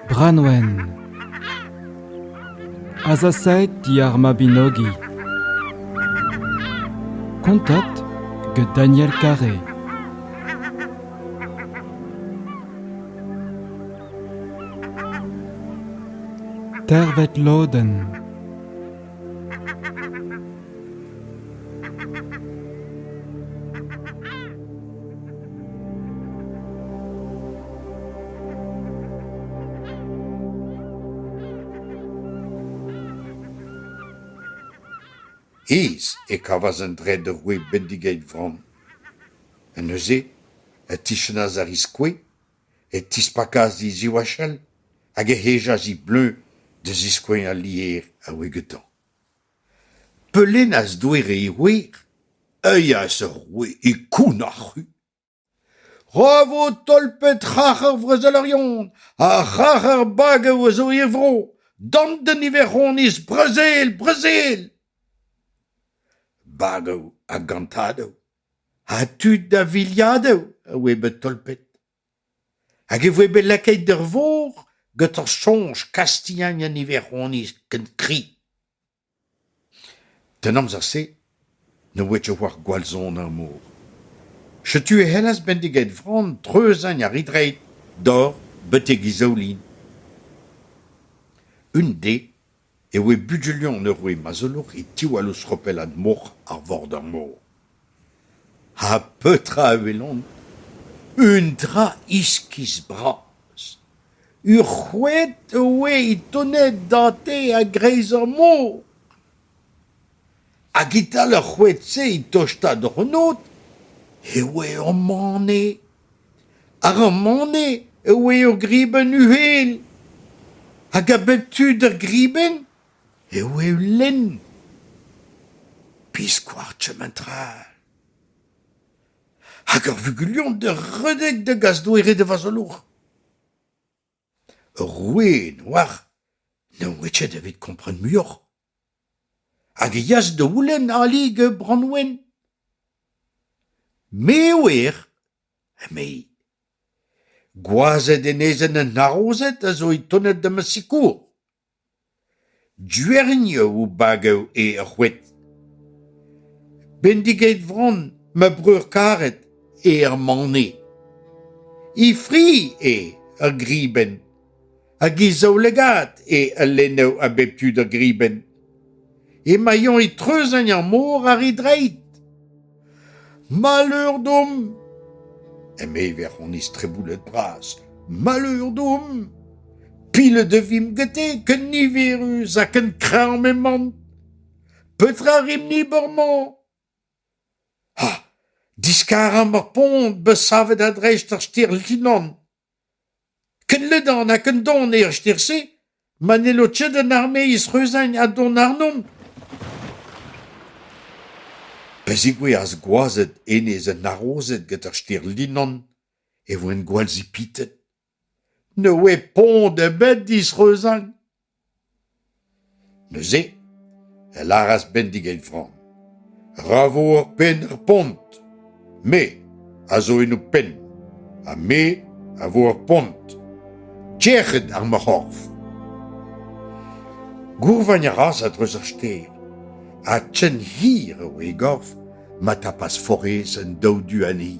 Branwen Azasaet diar Mabinogi Kontat get Daniel Carré Tervet lodenn Hêz e kavas an dred ur gwez bendigeit vran. Ha neuze, e tichanas ar riz-kouez e tispakas he ziwachell hag e hejas he bleuñv da ziskouez al lïer a oe gantañ. Peulennaz doe re e wer, euilhas eur roue e koun ar c'hu. Ra vo tolpet c'harc'har Vrezelerion ha c'harc'har Bagev a zo e vro, d'an niveroniz Brezel, Brezel! Bagev ha Gantadou Ha tud da viliadoù a oe bet tolpet. Hag e voe bet lakaet ur vor gant ur soñj Kastilhan an Iwerzhoniz ken kri. D'an amzer-se ne oe ket war gwallzon ar mor. Setu e c'hellas bendiget Vran dreuzagn ar Idreid dor betek e zaoulin. Un de e oe bugalion eur wech ma zeuloh e tiwall eus chopelad mor ar Vorder-mor. Ha petra e welont? Eun dra iskis-braz. Ur c'hoed e oe é tont da-te a-greiz ar mor. Hag e-tal ar c'hoed-se, e tosta d'an ôd, e oe ur mane. Ar Romaned e oe ur gribenn uhel hag a bep tu d'ur gribenn e oe ul lenn. Biskoazh kement-tra. Hag ur vugulion d'ur redek da gas doere da vazolour. Ur roue noac'h ne oe ket evit kompren muioc'h. Hag e yas da oulenn alig Branwen. Me wer, emezi. Gwazed enezenn an harozed a zo etonet da ma sikour. Dugeriou bagev eo ar c'hoed. Bendigeit Vran, ma breur karet, eo ar mane. He fri eo ar gribenn. hag he zaoulagad eo a lennev a bep tu da gribenn. Emañ e treuzañ ar mor a ri dreid. Malheur domp! eme e verc'honiz treboulet bras. Malheur domp! Pilet e vimp gete ken niverus ha ken kreñv m'eman. Petra rimp-ni bormañ? Ha, diskaramp ar pont, bet savet a-dreist ar stêr Linan. Ken ledan ha ken don eo ar stêr-se ma n'hello ket an armeizh reuzagn ha dont àrnomp ? Pa zegouezhas gwazed enez an harozed gant ar stêr Linan e voent gwallzipitet. Ne oe pont ebet disreuzagn. Neuze e lâras Bendig e framm Ra vo ur penn er pont! Me a zo en ho penn ha me a vo ur pont. Tec'het ar ma c'horf! Gourvagn a ras a-dreuz ar stêr, ha ken hir eo e gorf ma tapas forez an daou du anezhi.